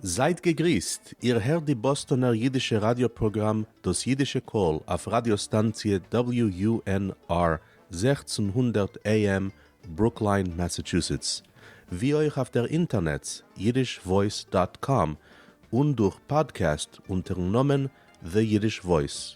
זייט געגריסט, איר הערט די באסטאנער אידישע ראדיא פראגראם דאס אידישע קול אויף ראדיא סטאנציע WUNR זעכצן הונדערט AM ברוקליין מאסעטשוסעטס, ווי אויך אויף דער אינטערנעץ אידיש וואויס דאט קאם און דורך פאדקעסט אונטערן נאמען The Yiddish Voice.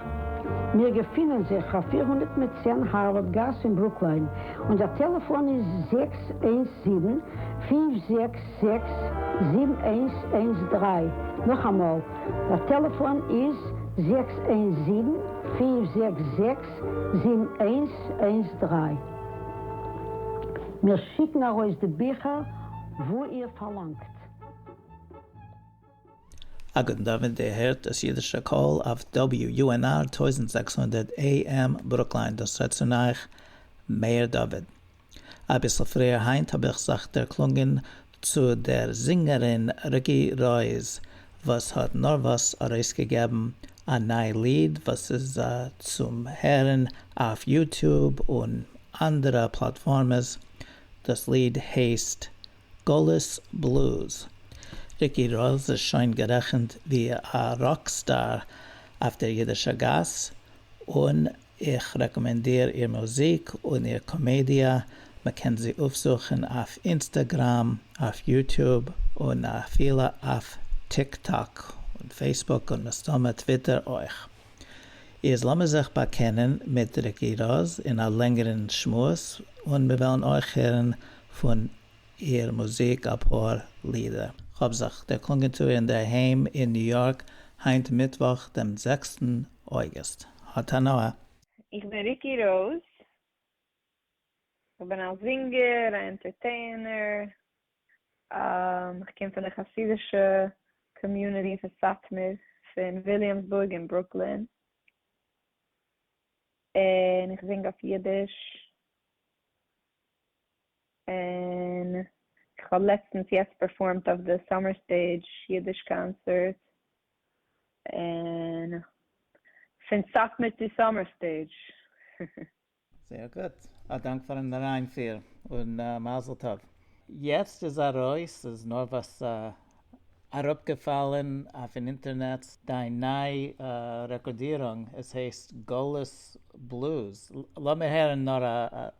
מיר געפינען זיך אויף פֿיר הונדערט מיט צען הארווארד גאס אין ברוקליין, אונזער טעלעפאן איז זעקס איינס זיבן, פֿינף זעקס זעקס, זיבן איינס איינס דרײַ, נאכאמאל, דער טעלעפאן איז זעקס איינס זיבן, פֿינף זעקס זעקס, זיבן איינס איינס דרײַ. מיר שיקן ארויס די ביכער וואו איר פארלאנגט. הגאון דוד דערהערט דאס אידישע קול אויף WUNR טויזנט זעקס הונדערט AM ברוקליין דאס רעדט צון אייך מאיר דוד. אביסל פריער היינט האב איך זיך דערקלונגען צו דער זינגערין ריקי רויז וואס האט נארוואס ארויסגעגעבן א ניי ליד וואס איז צום הערן אויף יוטוב און אנדערע פלאטפארמעס דאס ליד הייסט גלות בלוז. ריקי ראָז איז שוין גערעכנט ווי א ראק סטאר אויף דער אידישער גאס, און איך רעקאמענדיר איר מוזיק און איר קאמעדיע, מען קען זי אויפזוכן אויף אינסטעגראם, אויף יוטוב, און אפילו אויף טיק טאק און פעיסבוק און מסתמא טוויטער אויך. איז לאמיר זיך באקענען מיט ריקי ראָז אין א לענגערן שמועס, און מיר וועלן אויך הערן פון איר מוזיק אפאר לידער. כ'האב זיך דערקלונגען צו איר אינדערהיים אין ניו יארק היינט מיטוואך דעם זעקסטן אוגוסט. האט הנאה! איך בין ריקי ראוז, איך בין א זינגער, א ענטערטעינער, איך קום פון די חסידישע קאמיוניטי פון סאטמאר פון וויליאמסבורג און ברוקלין, און איך זינג אויף אידיש. און איך האב לעצטנס יעצט פערפארמט אויף די סאמער סטעידזש אידיש קאנצערט און פון סאטמאר צו סאמער סטעידזש. זייער גוט, א דאנק פארן אריינפיר, און מזל טוב. יעצט איז ארויס, ס'איז נארוואס אראפגעפאלען אויפן אינטערנעץ, דיין ניי רעקארדירונג, עס הייסט גלות בלוז, לאמיר הערן נאר א.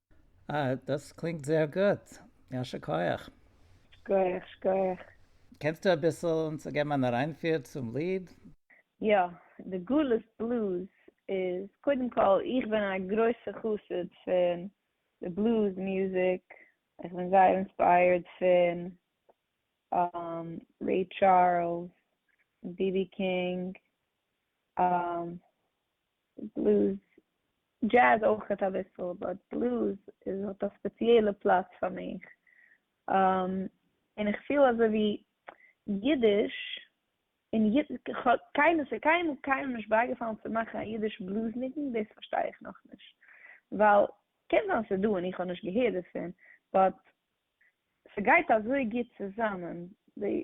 אה, דאס קלינגט זייער גוט. יישר כח. שכוח שכוח. קענסטו אביסל אונז געבן אן אריינפיר צום ליד? יא, די גלות בלוז איז, קודם כל איך בין א גרויסע חסיד פון די בלוז מוזיק, איך בין זייער אינספייערד פון רעי טשארלס, בי בי קינג, בלוז, דזשעז אויכעט אביסל, באט בלוז איז האט א ספעציעלע פלאץ פאר מיך, און איך פיל אזוי ווי אידיש און קיינמאל ס'איז קיינמאל קיינעם נישט בייגעפאלן צו מאכן א אידיש בלוז ניגון, דאס פארשטיי איך נאכנישט, ווייל קען זיין ס'איז דא און איך האב נישט געהערט דערפון, באט ס'גייט אזוי גוט צוזאמען, די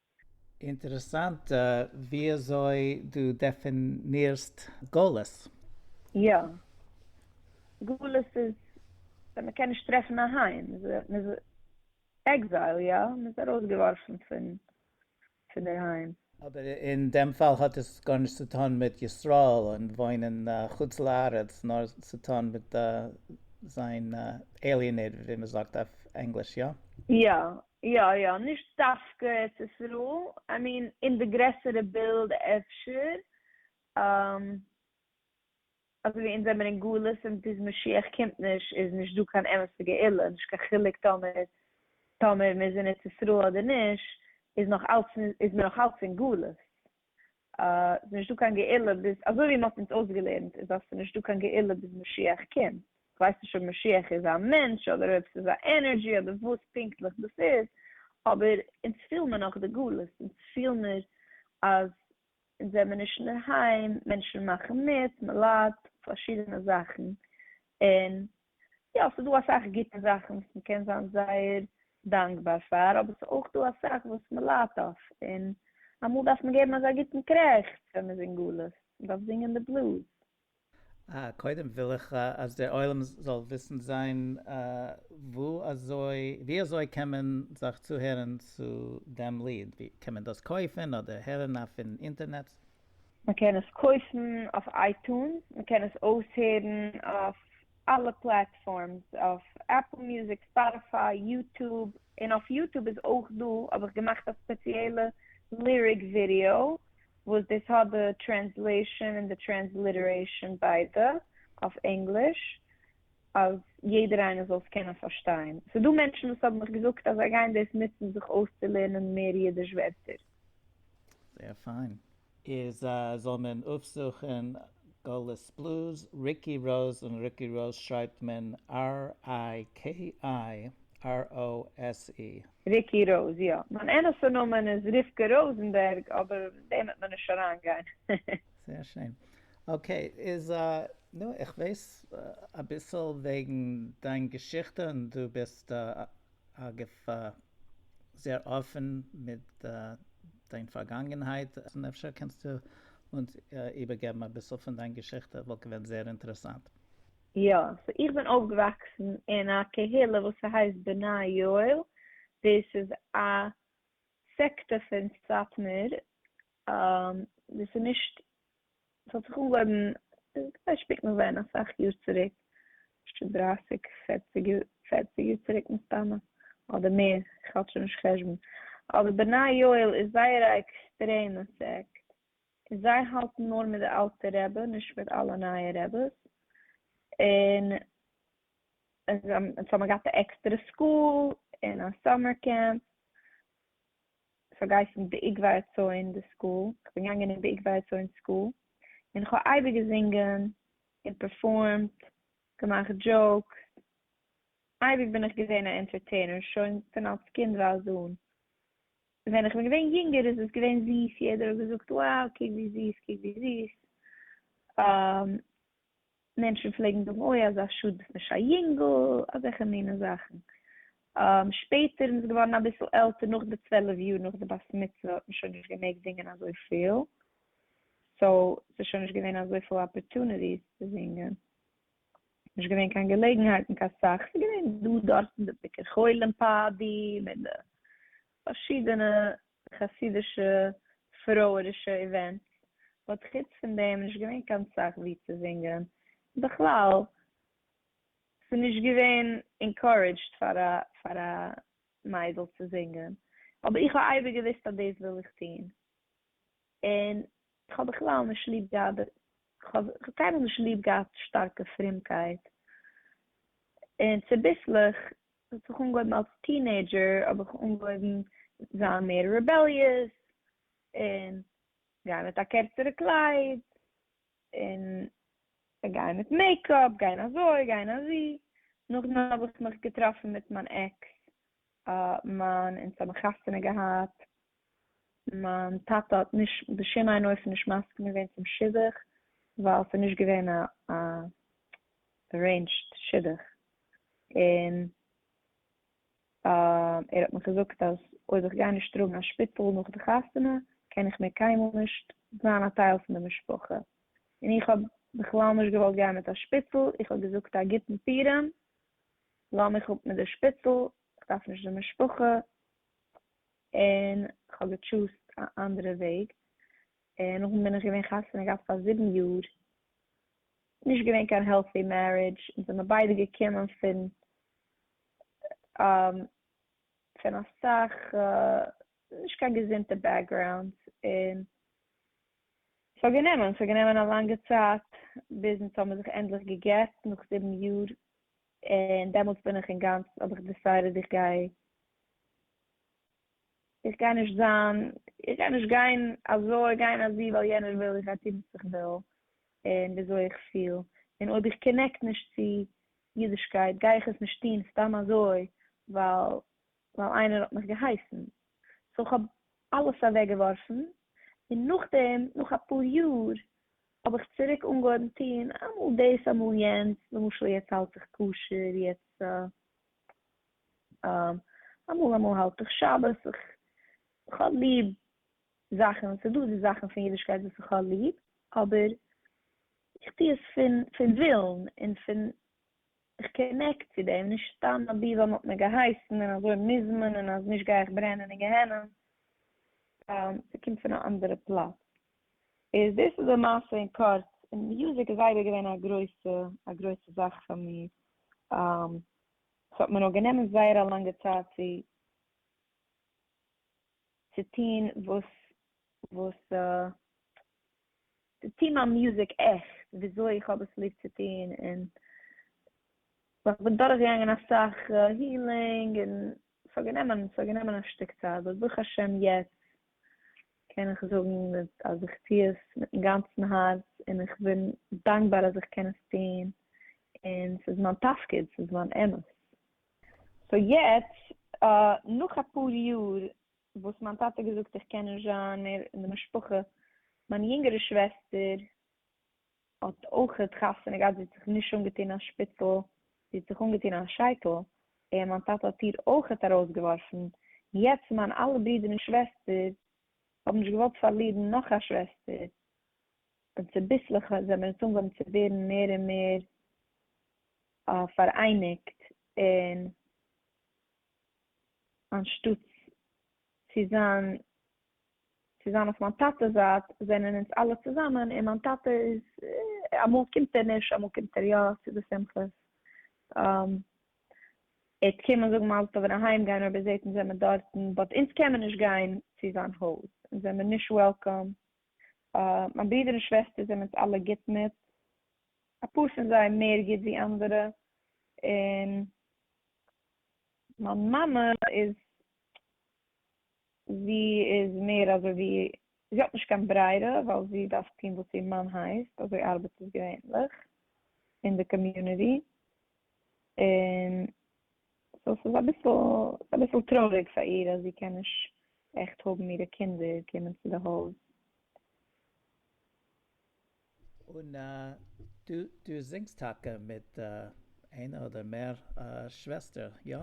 אינטערעסאנט וויאזוי דו דעפינירסט גלות. יא. גלות איז ווען מען קען נישט טרעפן א היים. מען איז עקזייל, יא. מען איז ארויסגעווארפן פון דער היים. אבער אין דעם פאל האט עס גארנישט צו טון מיט ישראל און וואוינען חוץ לארץ, נאר צו טון מיט זיין עליענעיטעד ווי מען זאגט אויף ענגליש, יא? יא. יא יא, נישט דווקא ארץ ישראל, איי מין אין די גרעסערע בילד אפשר, אזויווי אונז זעמיר אין גלות און ביז משיח קומט נישט איז נישט דא קיין אמת'ע גאולה, נישט קיין חילוק טאמער טאמער מ'איז אין ארץ ישראל אדער נישט איז נאך אלץ איז מען נאך אלץ אין גלות, ס'איז נישטא קיין גאולה ביז, אזוי ווי מ'האט אונז אויסגעלערנט איז אז ס'איז נישטא קיין גאולה ביז משיח קומט, כ'ווייס נישט אויב משיח איז א מענטש אדער אויב ס'איז א ענערדזשי אדער וואס פונקטליך דאס איז, אבער אונז פיל מיר נאך די גלות, אונז פיל מיר אז אונז זעמיר נישט אינדערהיים, מענטשן מאכן מיט, מ'ליידט פארשידענע זאכן, און יא, ס'דא אסאך גוטע זאכן וואס מ'קען זיין זייער דאנקבאר פאר, אבער ס'איז אויך דא אסאך וואס מ'ליידט אויף, און אמאל דארף מען געבן אזא גוטן קרעכץ ווען מ'איז אין גלות, מ'דארף זינגען די בלוז. אה, קודם וויל איך אז דער עולם זאל וויסן זיין וואו אזוי, ווי אזוי קען מען זיך צוהערן צו דעם ליד, קען מען דאס קויפן אדער הערן אויפן אינטערנעץ? מען קען עס קויפן אויף אייטונס, מען קען עס אויסהערן אויף אלע פלעטפארמס, אויף עפל מוזיק, ספאטיפיי, יוטוב, און אויף יוטוב איז אויך דא, האב איך געמאכט א ספעציעלע ליריק ווידיאו וואס דאס האט די טרענסלעישאן און די טרענסליטערעישאן ביידע אויף ענגליש, אז יעדער איינער זאל עס קענען פארשטיין, ס'דא מענטשן וואס האבן מיך געזאגט אז זיי גייען דאס נוצן זיך אויסצולערנען מער אידיש ווערטער. זייער פיין. איז א זאל מען אויפזוכען גלות בלוז ריקי ראוז און רוקי ראוז שרייבט מען RIKIROSE. ריקי ראוז יא, מיין אמת'ע נאמען איז רבקה ראזענבערג אבער אין דעם וועט מען נישט אריין גיין. זייער שיין. אקעי איז א נו איך ווייס אביסל וועגן דיין געשיכטע און דו ביסט א. אגב, זייער אפען מיט דיין פארגאנגענהייט, אפשר קענסטו אונז איבערגעבן אביסל פון דיין געשיכטע, וואלט געווען זייער אינטערעסאנט. יא, סאו איך בין אויפגעוואקסן אין א קהילה וואס ס'הייסט בני יואל, דאס איז א סעקטע פון סאטמאר, דאס איז נישט ס'האט זיך אנגעהויבן כדי שפיקן ווען אסאך יאר צוריק, פשט דרייסיג פערציג יאר צוריק מסתמא, אדער מער, איך האלט שוין נישט חשבון, אבער בני יואל איז זייער א עקסטרעמע סעקט, און זיי האלטן נאר מיט די אלטע רבי נישט מיט אלע נייע רביס, און זיי האבן געהאט א עקסטערע סקול און א סאמער קעמפ, כ'האב געהייסן בעיקבאר רצון די סקול, כ'בין געגאנגען אין בעיקבאר רצון סקול, און כ'האב אייביג געזינגען און פערפארמט, געמאכט דזשאוקס, אייביג בין איך געווען א ענטערטעינער שוין פון אלס קינדווייז אן, ווען איך בין געווען יונגער איז עס געווען זיס, יעדער האט געזאגט, wow קוק ווי זיס קוק ווי זיס, מענטשן פלעגן זאגן אוי אזא שאד ביסט נישט א יונגל, אזעלכע מינע זאכן, שפעטער מען איז געווארן אביסל עלטער נאך די צוועלף יאר נאך די בת מצוה האט מען שוין נישט געמעגט זינגען אזויפיל, סאו ס'איז שוין נישט געווען אזויפיל אפערטוניטיס צו זינגען, נישט געווען קיין געלעגנהייטן קיין סאך, ס'איז געווען דא דארט אין די ביקור חולים פאדי מיט די פארשידענע חסידישע פרואידישע איווענטס האט חוץ פון דעם נישט געווען קיין סאך ווי צו זינגען, בכלל ס'נישט געווען אינקארעדזשד פאר א מיידל צו זינגען, אבער איך האב אייביג געוויסט אז דאס וויל איך טון, און איך האב בכלל נישט ליב געהאט די, כ'האב קיינמאל נישט ליב געהאט שטארקע פרומקייט, און צוביסלעך ס'האט זיך אנגעהויבן אלס טינעידזשער האב איך אנגעהויבן זיין מער רעבעליעס און גיין מיט א קערצערע קלייד און גיין מיט מעיקאפ, גיין אזוי גיין אזו, נאכדעם האב איך מיך געטראפן מיט מיין עקס מיין אונז האבן חתונה געהאט מיין טאטע האט נישט בשום אין אופן נישט מסכים געווען צום שידוך ווייל ס'איז נישט געווען א ארעינדזשד שידוך, און ער האט מיך געזאגט אז אויב איך גיי נישט טראגן א שפיצל נאך די חתונה קען איך מער קיינמאל נישט זיין א טייל פון די משפחה, און איך האב בכלל נישט געוואלט גיין מיט א שפיצל, איך האב געזאגט א גוטן פורים, לאמיך אפ מיט די שפיצל, איך דארף נישט די משפחה, און כ'האב געטשוזט א אנדערע וועג, און נאכדעם בין איך געווען חתונה געהאט פאר זיבן יאר, נישט געווען קיין העלטי מערידזש, אונז זעמיר ביידע געקומען פון פון אסאך נישט קיין געזונטע בעקגראונדס, און ס'האט גענומען, ס'האט גענומען א לאנגע צייט ביז אונז האמיר זיך ענדליך געגעט נאך זיבן יאר, און דעמאלטס בין איך אינגאנצן האב איך דיסיידעד איך גיי, איך גיי נישט זיין, איך גיי נישט גיין אזוי, גיין אזו ווייל יענער וויל, איך גיי טון וואס איך וויל, און ווי אזוי איך פיל, און אויב איך קאנעקט נישט צו אידישקייט גיי איך עס נישט טון סתם אזוי ווייל ווייל איינער האט מיך געהייסן, סאו כ'האב אלעס אוועק געווארפן, און נאכדעם נאך אפאר יאר האב איך צוריק אנגעהויבן טון אמאל דאס אמאל יענץ, למשל יעצט האלט איך כשר, יעצט אמאל אמאל האלט איך שבת, כ'האב ליב זאכן, ס'איז דא די זאכן פון אידישקייט וואס איך האב ליב, אבער איך טו עס פון ווילן און פון איך קאנעקט צו דעם נישט סתם אבי ווייל מ'האט מיר געהייסן און אזוי מוז מען און אז נישט גיי איך ברענען אין גיהנום, סתם ס'קומט פון א אנדערע פלאץ. איז דאס איז די מעשה אין קורץ, און מוזיק איז אייביג געווען א גרויסע א גרויסע זאך פאר מיר, ס'האט מיר נאר גענומען זייער א לאנגע צייט צו צו טון וואס וואס טוה מיין מוזיק עכט וויאזוי איך האב עס ליב צו טון, און איך בין דורכגעגאנגען אסאך הילינג און ס'האט גענומען ס'האט גענומען א שטיק צייט באט ברוך השם יעצט קען איך זאגן אז איך טוה עס מיטן גאנצן הארץ און איך בין דאנקבאר אז איך קען עס טון און ס'איז מיין תפקיד ס'איז מיין אמט, סאו יעצט נאך אפאר יאר וואס מיין טאטע האט געזאגט איך קען נישט זיין מער אין די משפחה, מיין יונגערע שוועסטער האט אויכעט חתונה געהאט, זי האט זיך נישט אנגעטון א שפיצל, זי האט זיך אנגעטון א שייטל, און מיין טאטע האט איר אויכעט ארויסגעווארפן, יעצט מיין אלע ברידער און שוועסטער האבן נישט געוואלט פארלירן נאך א שוועסטער, און צוביסלעך זעמיר אונז אנגעהויבן צו ווערן מער און מער פאראייניגט, און אנשטאטס צו זיין צו זיין אויף מיין טאטע'ס זייט זענען אונז אלע צוזאמען און מיין טאטע איז אמאל קומט ער נישט אמאל קומט ער יא צו די שמחות ער קען מען זאגן מזל טוב און אהיים גיין אויב ער זעט אונז זעמער דארטן באט אונז קען מען נישט גיין צו זיין הויז אונז זעמער נישט וועלקאם מיין ברודער און שוועסטער זענען אונז אלע גוט מיט אפאר פון זיי מער גוט ווי אנדערע און מיין מאמע איז, זי איז מער אזוי ווי, זי האט נישט קיין ברירה ווייל זי דארף טון וואס איר מאן הייסט, אזוי ארבעט עס געווענליך אין די קאמיוניטי, און סאו ס'איז אביסל, ס'איז אביסל טרויעריג פאר איר אז זי קען נישט עכט האבן אירע קינדער קומען צו די הויז. און דו דו זינגסט טאקע מיט איינע אדער מער שוועסטער, יא?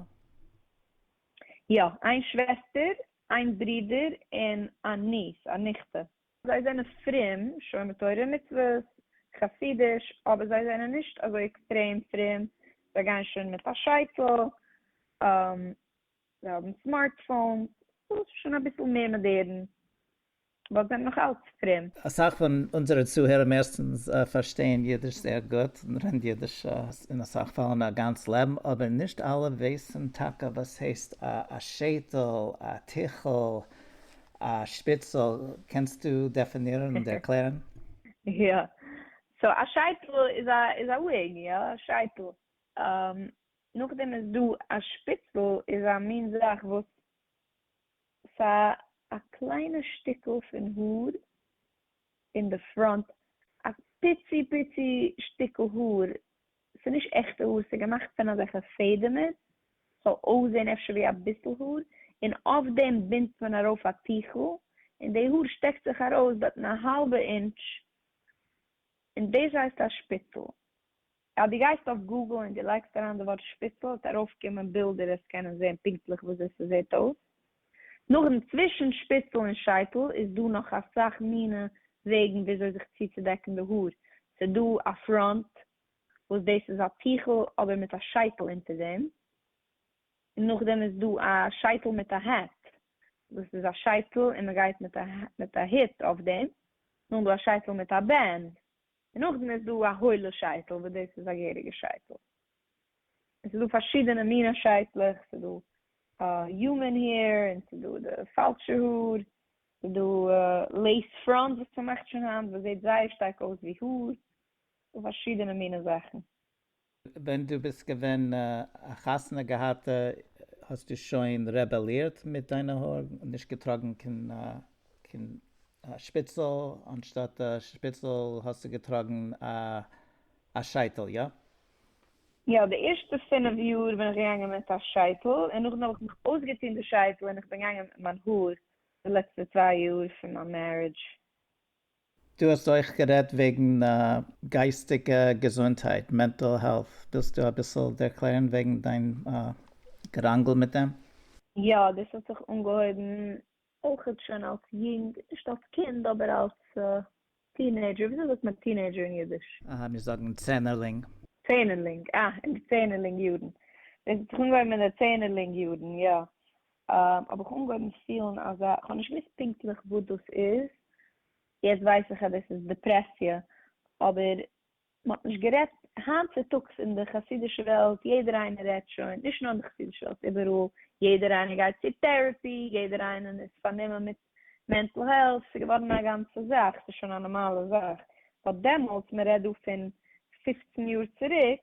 יא, איין שוועסטער, איין ברודער, און א ניס, א ניכטע. זיי זענען פרום, שומר תורה ומצוות, חסידיש, אבער זיי זענען נישט אזוי עקסטרעם פרום, זיי גייען שוין מיט א שייטל, זיי האבן סמארטפאונס, ס'איז שוין אביסל מער מאדערן. וואס זענען נאך אלץ פרום. אסאך פון אונזערע צוהערער מערסטענס פארשטייען אידיש זייער גוט און רעדן אידיש אין אסאך פאלן א גאנץ לעבן אבער נישט אלע ווייסען טאקע וואס הייסט א שייטעל, א טיכל, א שפיצעל, קענסטו דעפינירען און ערקלערען? יא, סאו א שייטעל איז א איז א וויג, יא א שייטעל, נאכדעם איז דא א שפיצעל איז א מין זאך וואס סא א קליינע שטיקל פון האר אין די פראנט, א פיצי פיצי שטיקל האר, ס'נישט עכטע האר, ס'געמאכט פון אזעלכע פעדעמער, ס'זאל אויסזען אפשר ווי אביסל האר, און אויף דעם בינדט מען ארויף א טיכל, און די האר שטעקט זיך ארויס בעתן א האלבע אינטש, און דאס הייסט א שפיצל. אז דו גייסט אויף גוגל און דו לייגסט אריין די ווארט שפיצל וועט ארויפקומען בילדער וואס קענען זען פונקטליך וויאזוי ס'זעט אויס. נאכדעם צווישן שפיצל און שייטל איז דא נאך אסאך מינע וועגן וויאזוי זיך צוצודעקן די האר, ס'דא א פראנט וואס דאס איז א טיכל אבער מיט א שייטל אונטער דעם, און נאכדעם איז דא א שייטל מיט א העט, דאס איז א שייטל און מ'גייט מיט א הוט אויף דעם, נאכדעם איז דא א שייטל מיט א בענד, און נאכדעם איז דא א הוילע שייטל וואס דאס איז א געהעריגע שייטל, און ס'איז דא פארשידענע מיני שייטלעך, ס'איז דא יומען העיר, און ס'איז דא די פאלשע האר, ס'איז דא לעיס פראנט וואס מ'מאכט שוין היינט וואס זעט זייער שטארק אויס ווי האר, ס'איז דא פארשידענע מיני זאכן, ווען דו ביסט געווען א חתונה געהאטע האסטו שוין רעבעלירט מיט דיינע האר? נישט געטראגן קיין שפיצל, אנשטאט א שפיצל האסטו געטראגן א שייטל, איא? יא, די ערשטע פינף יאר בין איך געגאנגען מיט א שייטל, און נאכדעם האב איך מיך אויסגעטון די שייטל און איך בין געגאנגען מיט מיין האר די לעצטע צוויי יאר פון מיין מערידזש. דו האסט אויך גערעדט וועגן גייסטיגע געזונטהייט, מענטעל העלט, ווילסטו אביסל ערקלערן וועגן דיין געראנגל מיט דעם? יא, דאס האט זיך אנגעהויבן אויכעט שוין אלס יונג, נישט אלס קינד, אבער אלס טינעידזשער, וויאזוי זאגט מען טינעידזשער אין אידיש? אהה, מיר זאגן צענערלינג. צענערלינג, אה, אין די צענערלינג יארן, דאס האט זיך אנגעהויבן אין די צענערלינג יארן, יא, האב איך אנגעהויבן פילן אזא, איך האב נישט געוואוסט פונקטליך וואס דאס איז, יעצט ווייס איך אז דאס איז דעפרעסיע, אבער מען האט נישט גערעדט, היינט צוטאגס אין די חסידישע וועלט יעדער איינער רעדט שוין, נישט נאר אין די חסידישע וועלט איבעראל, יעדער איינער גייט צו טערעפי, יעדער איינער איז פארנומען מיט מענטל העלט, ס'איז געווארן א גאנצע זאך, ס'איז שוין א נארמאלע זאך, באט דעמאלטס, מען רעדט דא פון פופצן יאר צוריק,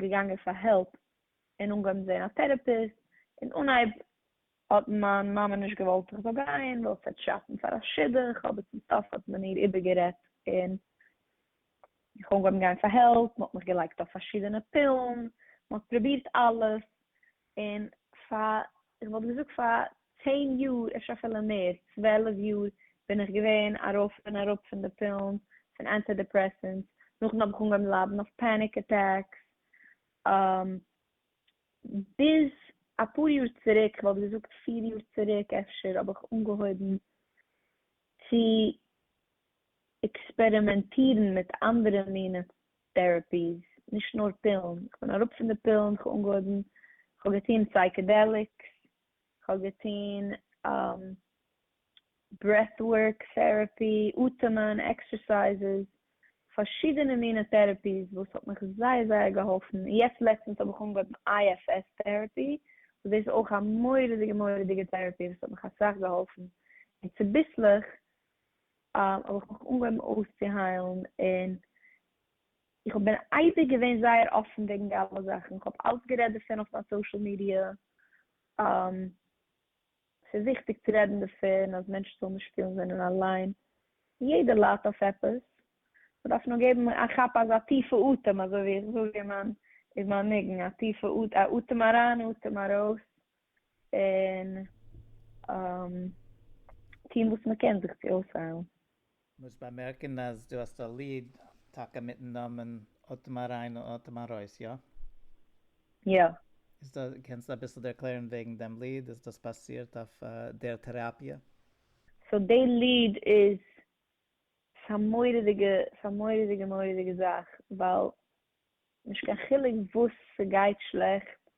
געגאנגען פאר העלפ און אנגעהויבן זעהן א טערעפיסט, אין אנהייב האט מיין מאמע נישט געוואלט איך זאל גיין ווייל עס וועט שאטן פאר א שידוך, אבער צום סוף האט מען איר איבערגערעדט און איך אנגעהויבן גיין פאר העלפ, מען האט מיך געלייגט אויף פארשידענע פילן, מען האט פרובירט אלעס, און פאר, איך וואלט געזאגט פאר צען יאר, אפשר אפילו מער, צוועלף יאר, בין איך געווען ארויף און אראפ פון די פילן, פון אנטי דעפרעסענטס, נאכדעם האב איך אנגעהויבן ליידן אויף פעניק אטעקס, ביז אפאר יאר צוריק, איך וואלט געזאגט פיר יאר צוריק אפשר, האב איך אנגעהויבן צו עקספערימענטירן מיט אנדערע מיני טערעפיס, נישט נאר פילן, איך בין אראפ פון די פילן, איך האב אנגעהויבן, איך האב געטון סייקעדעליקס, איך האב געטון ברעט ווארק טערעפי, אטעמען, עקסערסייזעס, פארשידענע מיני טערעפיס וואס האט מיך זייער זייער געהאלפן, יעצט לעצטענס האב איך אנגעהויבן IFS טערעפי, וואס דאס איז אויך א מורא'דיגע מורא'דיגע טערעפי וואס האט מיך אסאך געהאלפן, און צוביסלעך האב איך מיך אנגעהויבן אויסצוהיילן און איך האב בין אייביג געווען זייער אפן וועגן די אלע זאכן, איך האב אלץ גערעדט דערפון אויף מיין סאושעל מידיע, ס'איז וויכטיג צו רעדן דערפון אז מענטשן זאלן נישט פילן זיי זענען אליין, יעדער ליידט אויף עפעס, מ'דארף נאר געבן א כאפ אזא טיפע אטעם אזוי ווי איך זאג אין מיין ניגון, א טיפע אטעם אריין אטעם ארויס, און טון וואס מען קען זיך צו אויסהיילן. מוז באמערקן אז דו האסט א ליד טאקע מיטן נאמען אטעם אריין און אטעם ארויס, יא? יא. איז דא, קענסטו אביסל דערקלערן וועגן דעם ליד? איז דאס באזירט אויף דער טעראפיע? סאו די ליד איז ס'איז א מורא'דיגע ס'איז א מורא'דיגע מורא'דיגע זאך ווייל נישט קיין חילוק וואס ס'גייט שלעכט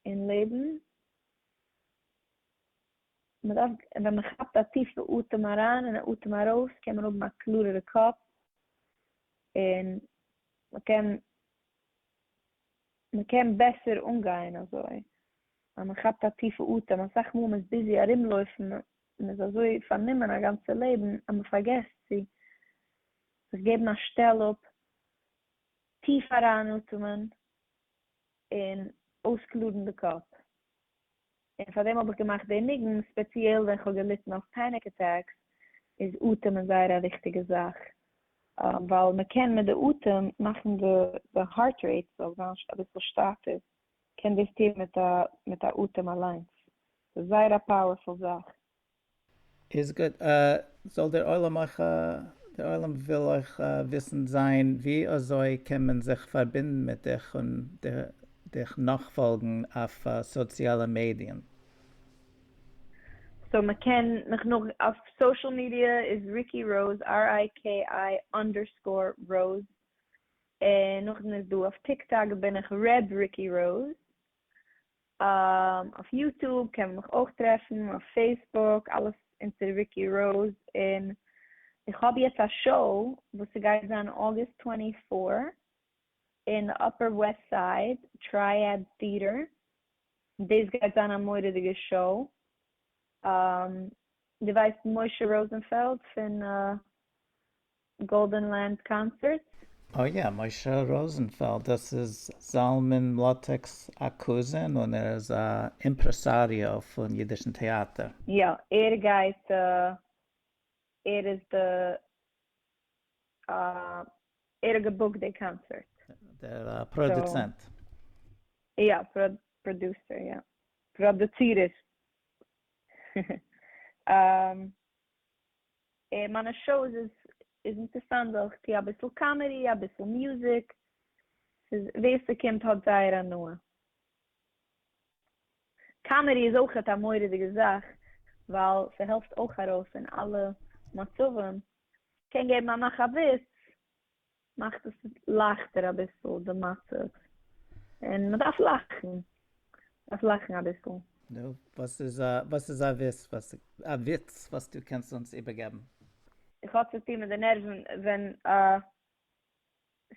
אין לעבן, מ'דארף, ווען מ'כאפט א טיפע אטעם אריין און א אטעם ארויס קען מען האבן א קלארערע קאפ, און מ'קען, מ'קען בעסער אנגיין אזוי, אז מ'כאפט א טיפע אטעם, אסאך מאל מ'איז ביזי ארומלויפן, מ'איז אזוי פארנומען א גאנצע לעבן אז מ'פארגעסט צו זיך געבן א שטעל אפ טיף אריינאטעמען און אויסקלארן די קאפ, און פאר דעם האב איך געמאכט די ניגון, ספעציעל ווען איך האב געליטן אויף פעניק אטעקס איז אטעמען זייער א וויכטיגע זאך, ווייל מען קען מיט די אטעם מאכן די הארט רעיט זאל זיין אביסל שטייפער, קען דאס טון מיט א אטעם אליינס, ס'איז זייער א פאוערפול זאך. איז גוט זאל דער עולם אויך דער עולם וויל אויך וויסן זיין ווי אזוי קען מען זיך פארבינדן מיט דיך און דיך נאכפאלגן אויף סאציאלע מידיען. סאו מ'קען מיך נאך אויף סאשעל מידיע איז ריקי ראוז ר איי קי איי אנדערסקאור ראוז, און נאכדעם איז דא אויף טיק טאק בין איך ר' ריקי ראוז, אויף יוטוב קען מען מיך אויך טרעפן, אויף פעיסבוק, אלעס אונטער ריקי ראוז, און איך האב יעצט א שאו וואס ס'גייט זיין אוגוסט טווענטי פאר אין די אפער וועסט סייד טרייעד טיעטער, דאס גייט זיין א מורא'דיגע שאו, דו ווייסט משה ראזענפעלד פון גאלדען לעמפ קאנצערט? אה יא, משה ראזענפעלד, דאס איז זלמן מלאטעק'ס א קוזין און ער איז א אימפרעסאריאו פון אידישן טעאטער. יא, ער גייט, ער איז די, ער האט געבוקט די קאנצערט. דער פראדוצענט. יא, פראדוסער, יא, פראדוצירער. מיינע שאוס איז איז אינטערסאנט ווייל איך טוה אביסל קאמעדי אביסל מוזיק, ס'איז ווער ס'קומט האט זייער הנאה, קאמעדי איז אויכעט א מורא'דיגע זאך ווייל ס'העלפט אויך ארויס אין אלע מצבים, קען געבן א מאך א וויץ מאכט עס לייכטער אביסל די מצב, און מען דארף לאכן, דארף לאכן אביסל. נו, וואס איז א וואס איז א וויץ א וויץ וואס דו קענסט אונז איבערגעבן? עס האט צו טון מיט די נערוון ווען א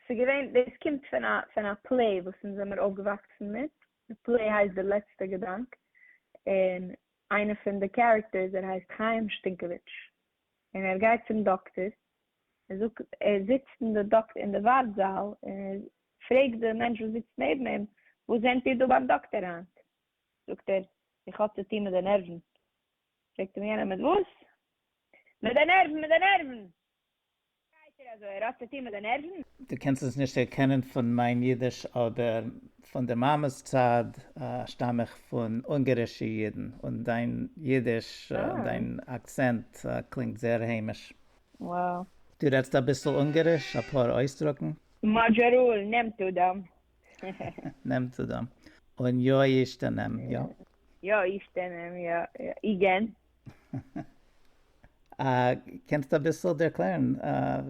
ס'איז געווען, דאס קומט פון א פון א פלעי וואס אונז זעמער אויפגעוואקסן מיט, די פלעי הייסט דער לעצטער געדאנק, און איינער פון די קערעקטערס ער הייסט חיים שטינקעוויטש, און ער גייט צום דאקטער, ער זאגט, ער זיצט אין די דאק אין די ווארט זאל, און ער פרעגט די מענטש וואס זיצט נעבן אים, וואס זענט איר דא ביים דאקטער היינט? זאגט ער, איך האב צו טון מיט די נערוון. פרעגט אים יענער, מיט וואס? מיט די נערוון! מיט די נערוון! שטייט ער אזוי ער האט צו טוהן מיט די נערוון? דו קענסט עס נישט דערקענען פון מיין אידיש אבער פון די מאמע'ס צד שטאם איך פון אונגערישע אידן און דיין אידיש און דיין אקצענט קלינגט זעהר היימיש. וואו. דו רעדסט אביסל אונגעריש? אפאר אויסדרוקן? מאדזשאראל נעמט אדם. נעמט אדם. און יא אישתנם, יא. יא אישתנם, יא. איגען. קענסט אביסל ערקלערן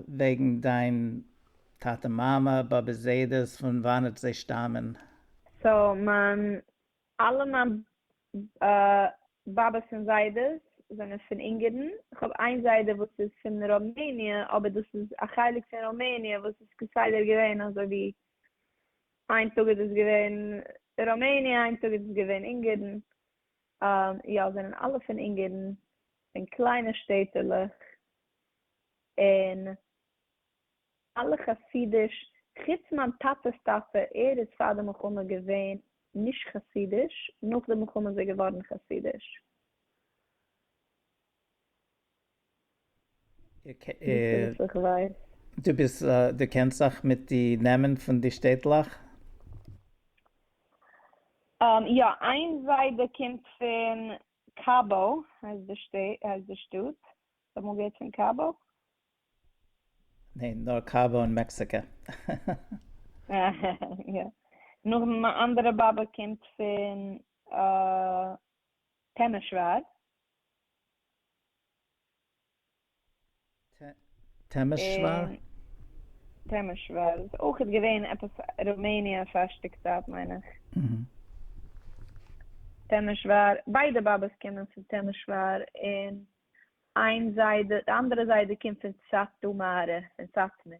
וועגן דיין טאטע מאמע באבע זיידעס פון וואנעט זיי שטאמען? סאו מיין אלע מיין באבעס און זיידעס זענען פון אונגערן, איך האב איין זיידע וואס איז פון ראמעניע אבער דאס איז א חלק פון ראמעניע וואס איז כסדר געווען אזוי ווי איין טאג איז עס געווען ראמעניע איין טאג איז עס געווען אונגערן און יא זענען אלע פון אונגערן פון קליינע שטעטעלעך און אלע חסידיש חוץ מיין טאטעס טאטע ער איז פאר די מלחמה געווען נישט חסידיש נאך די מלחמה איז ער געווארן חסידיש. דו ביסט דו קענסט זיך מיט די נעמען פון די שטעטלעך? יא, איין זיידע קומט פון קאבא הייסט די שטעט, הייסט די שטאט, האסט אמאל געהערט פון קאבא? ניין, נאר קאבא אין מעקסיקע. יא, נאך דעם אנדערע באבע קומט פון טעמעשוואר. טעמעשוואר? טעמעשוואר איז אויכעט געווען עפעס ראמעניע פארשטיק צייט מיין איך. טעמעשוואר, ביידע באבעס קומען פון טעמעשוואר און איין זיידע, די אנדערע זיידע קומט פון סאטמאר, פון סאטמער.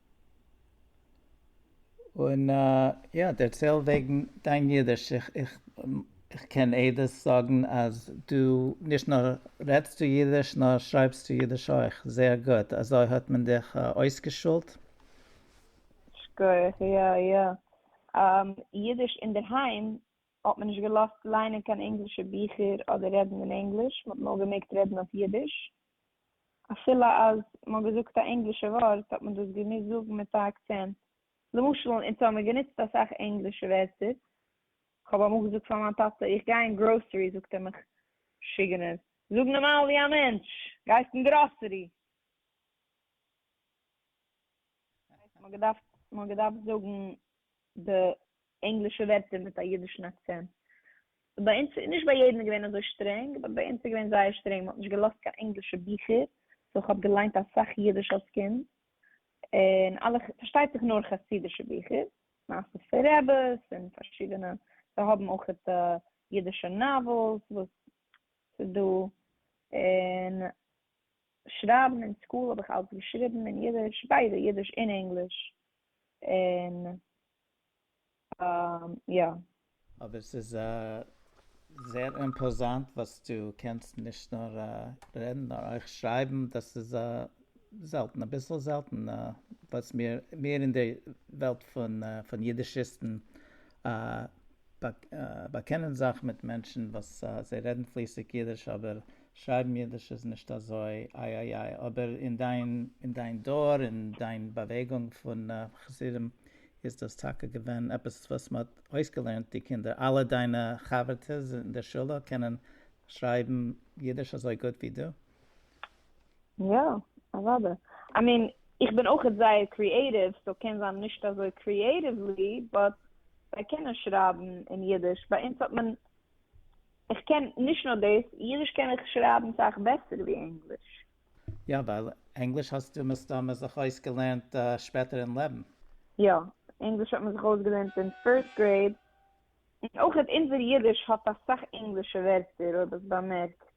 און יא דערצייל וועגן דיין אידיש, איך איך איך קען עדות זאגן אז דו נישט נאר רעדסטו אידיש נאר שרייבסטו אידיש אויך זייער גוט, אזוי האט מען דיך אויסגעשולט? שכוח, יא יא, אידיש אינדערהיים האט מען נישט געלאזט ליינען קיין ענגלישע ביכער אדער רעדן אין ענגליש, מען האט נאר געמעגט רעדן אויף אידיש, אפילו אז מען האט געזאגט א ענגלישע ווארט האט מען דאס געמוזט זאגן מיט א אקצענט, למשל אין אונז האבן מיר גענוצט אסאך ענגלישע ווערטער, כ'האב אמאל געזאגט פאר מיין טאטע איך גיי אין גראסערי זאגט ער מיך משוגענער, זאג נארמאל ווי א מענטש, גייסט אין גראסערי? מען האט געדארפט זאגן די ענגלישע ווערטער מיט א אידישן אקצענט. ביי אונז, נישט ביי יעדן איז געווען אזוי שטרענג, באט ביי אונז איז געווען זייער שטרענג, מען האט נישט געלאזט קיין ענגלישע ביכער, סאו איך האב געליינט אסאך אידיש אלס קינד, און אלע, פארשטייט זיך נאר חסידישע ביכער, מעשיות פון רעבעס און פארשידענע, זיי האבן אויכעט אידישע נאוועלס וואס ס'איז דא, און שרייבן אין סקול האב איך אלס געשריבן אין אידיש, ביידע אידיש און ענגליש, און יא. אבער ס'איז זייער אימפאזאנט וואס דו קענסט נישט נאר רעדן נאר אויך שרייבן, דאס איז זעלטן, אביסל זעלטן וואס מיר אין די וועלט פון אידישיסטן באקענען זיך מיט מענטשן וואס זיי רעדן פליסיג אידיש אבער שרייבן אידיש איז נישט אזוי איי איי איי, אבער אין דיין אין דיין דור אין דיין באוועגונג פון חסידים איז דאס טאקע געווען עפעס וואס מען האט אויסגעלערנט די קינדער, אלע דיינע חבר'טעס אין די שולע קענען שרייבן אידיש אזוי גוט ווי דו? יא, אוודאי. איי מין, איך בין אויכעט זייער קריעטיוו, סאו קען זיין נישט אזוי קריעטיוולי, באט זיי קענען שרייבן אין אידיש. ביי אונז האט מען, איך קען נישט נאר דאס, אידיש קען איך שרייבן סאך בעסער ווי ענגליש. יא, ווייל ענגליש האסטו מסתמא זיך אויסגעלערנט שפעטער אין לעבן. יא, ענגליש האט מען זיך אויסגעלערנט אין פירסט גרעיד, און אויכעט אונזער אידיש האט אסאך ענגלישע ווערטער, אויב האסט באמערקט.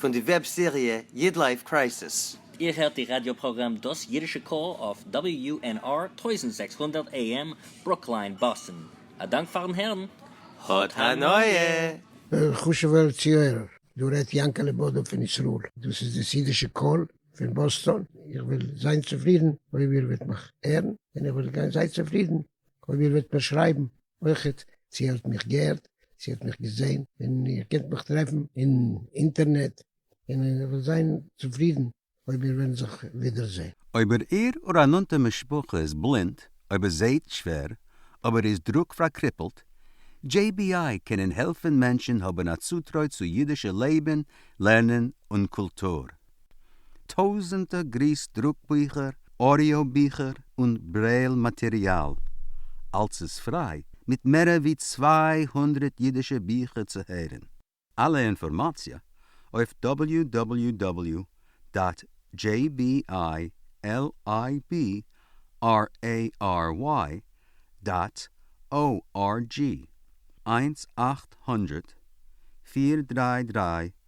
פון די וועב סעריע איד לייף קרייסיס. איר הערט די ראדיא פראגראם דאס אידישע קול אויף WUNR טויזנט זעקס הונדערט AM ברוקליין באסטן. א דאנק פארן הערן. האט הנאה! חשובער צוהערער, דא רעדט יענקעלע בודא פון ישראל, דאס איז דאס אידישע קול פון באסטאן, איך וועל זיין צופרידן אויב איר וועט מיך הערן, און איך וועל גיין זיי צופרידן אויב איר וועט מיר שרייבן. אויכעט, צי איר האט מיך געהערט, צי איר האט מיך געזעהן, און איר קענט מיך טרעפן אין אינטערנעט, און איך וועל זיין צופרידן אויב מיר וועלן זיך ווידער זעהן. אויב איר אור א נאנטע משפחה איז בלינד, אויב איר זעהט שווער, אויב איר איז דרוק פארקריפלט, JBI קענען העלפן מענטשן האבן א צוטרוי צו אידישע לעבן, לערנען און קולטור. טויזענטער גריס דרוק ביכער, אודיאו ביכער און ברעיל מאטעריאל, אלס איז פריי מיט מערער ווי צוויי הונדרעט אידישע ביכער צו הערען. אלע אינפארמאציע אויף דאבעליו דאבעליו דאבעליו דאט דזשעי בי איי על איי בי אר עי אר וויי דאט או אר דזשי. איינס אַכט הונדרעט פֿיר דרײַ דרײַ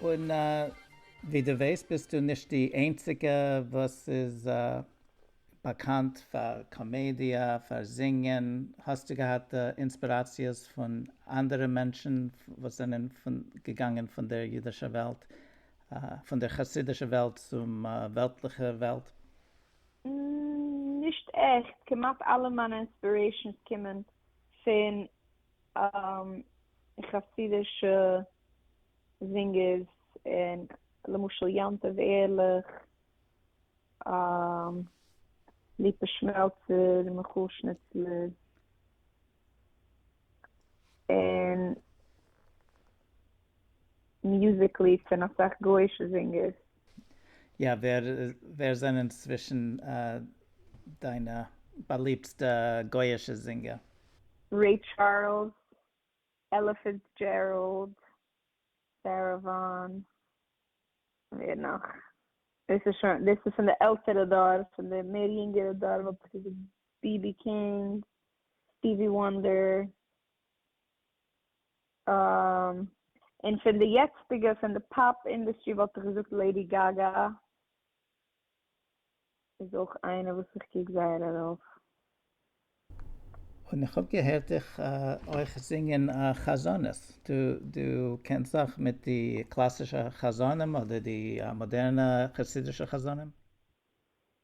און ווי דו ווייסט ביסטו נישט די איינציגע וואס איז באקאנט פאר קאמעדיע, פאר זינגען, האסטו געהאט אינספיראציעס פון אנדערע מענטשן וואס זענען געגאנגען פון דער אידישער וועלט, פון דער חסידישער וועלט צום וועלטליכער וועלט? נישט עכט, כמעט אלע מיינע אינספירעישאנס קומען פון חסידישע זינגערס און למשל יום טוב ערליך, ליפא שמעלצער, מיכל שניצלער. און מוזיק ליד פון אסאך גויאישע זינגערס. יא, ווער ווער זענען צווישן דיינע באליבטסטע גויאישע זינגער? רעי טשארלס, עלא פיצדזשעראלד, סערא וואן, ווער נאך? דאס איז שוין דאס איז פון די עלטערע דור, פון די מער יונגערע דור וואלט איך געזאגט BB King, Stevie Wonder, און פון די יעצטיגע פון די פאפ אינדעסטרי וואלט איך געזאגט לעידי גאגא איז אויך איינע וואס איך קוק זייער ארויף. און איך האב געהערט דיך אויך זינגען א חזנות, דו קענסט זאך מיט די קלאסישע חזנים אדער די מאדערנע חסידישע חזנים?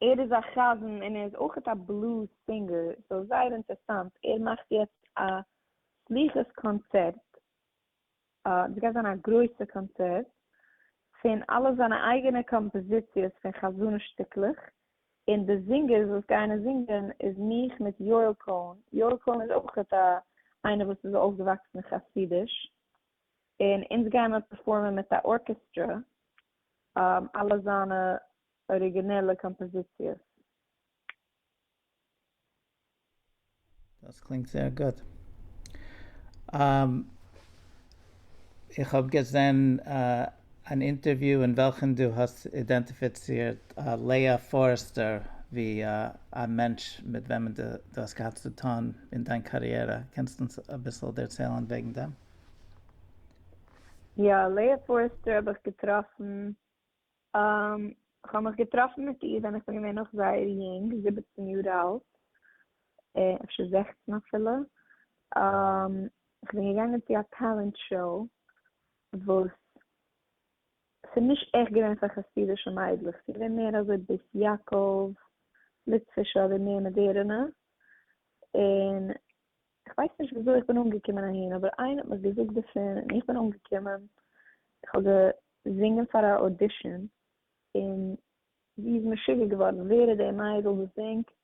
ער איז א חזן און ער איז אויכעט א בלוז סינגער, סאו זייער אינטערסאנט, ער מאכט יעצט א סליחות קאנצערט, דאס גייט זיין א גרויסע קאנצערט, פון אלע זיינע אייגענע קאמפאזיציעס פון חזנות שטיקלעך, און די זינגערס וואס גייען עס זינגען איז מיך מיט יואל קאהן, יואל קאהן איז אויכעט א איינער וואס איז אויפגעוואקסן אין חסידיש, און אונז גייען מיר פערפארמען מיט א ארקעסטרא אלע זיינע אריגינעלע קאמפאזיציעס. דאס קלינגט זייער גוט. איך האב געזען אן אינטערוויו אין וועלכן דו האסט אידענטיפיצירט לאה פארעסטער ווי א מענטש מיט וועמען דו האסט געהאט צו טון אין דיין קאריערע. קענסט אונז אביסל דערציילן וועגן דעם? יא, לאה פארעסטער האב איך געטראפן איך האב מיך געטראפן מיט איר ווען איך בין געווען נאך זייער יונג, זיבעצן יאר אלט, אפשר זעכצן אפילו, איך בין געגאנגען צו א טעלענט שאו, וואס ס'איז נישט עכט געווען פאר חסידישע מיידלעך, ס'איז געווען מער אזוי בית יעקב, ליטווישע אדער מער מאדערענע, און איך ווייס נישט וויאזוי איך בין אנגעקומען אהין, אבער איינער האט מיך געזאגט דערפון און איך בין אנגעקומען, איך האב געזינגען פאר א אודישאן און זי איז משוגע געווארן ווער איז די מיידל וואס זינגט,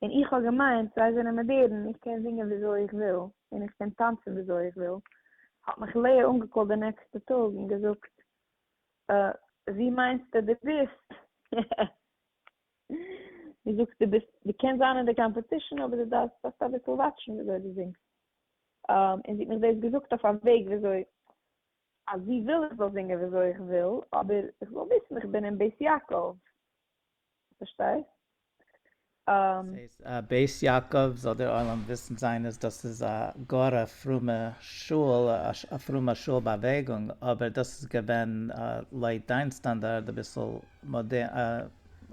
און איך האב געמיינט זיי זענען מאדערן, איך קען זינגען וויאזוי איך וויל און איך קען טאנצן וויאזוי איך וויל, האט מיך לאה אנגעקאלט די נעקסטע טאג און געזאגט, אה, ווי מיינסטו דו ביסט? מ'זאגט דו ביסט, דו קענסט זיין אין די קאמפעטישן אבער דו דארפסט דארפסט אביסל וואטשן וויאזוי דו זינגסט, און זי האט מיך דאס געזאגט אויף א וועג וויאזוי אז זי וויל איך זאל זינגען וויאזוי איך וויל, אבער איך זאל וויסן איך בין אין בית יעקב, פארשטייסט? דאס הייסט א בית יעקב זאל דער עולם וויסן זיין אז דאס איז א גאר א פרומע שול, א פרומע שול באוועגונג, אבער דאס איז געווען לויט דיין סטאנדארד אביסל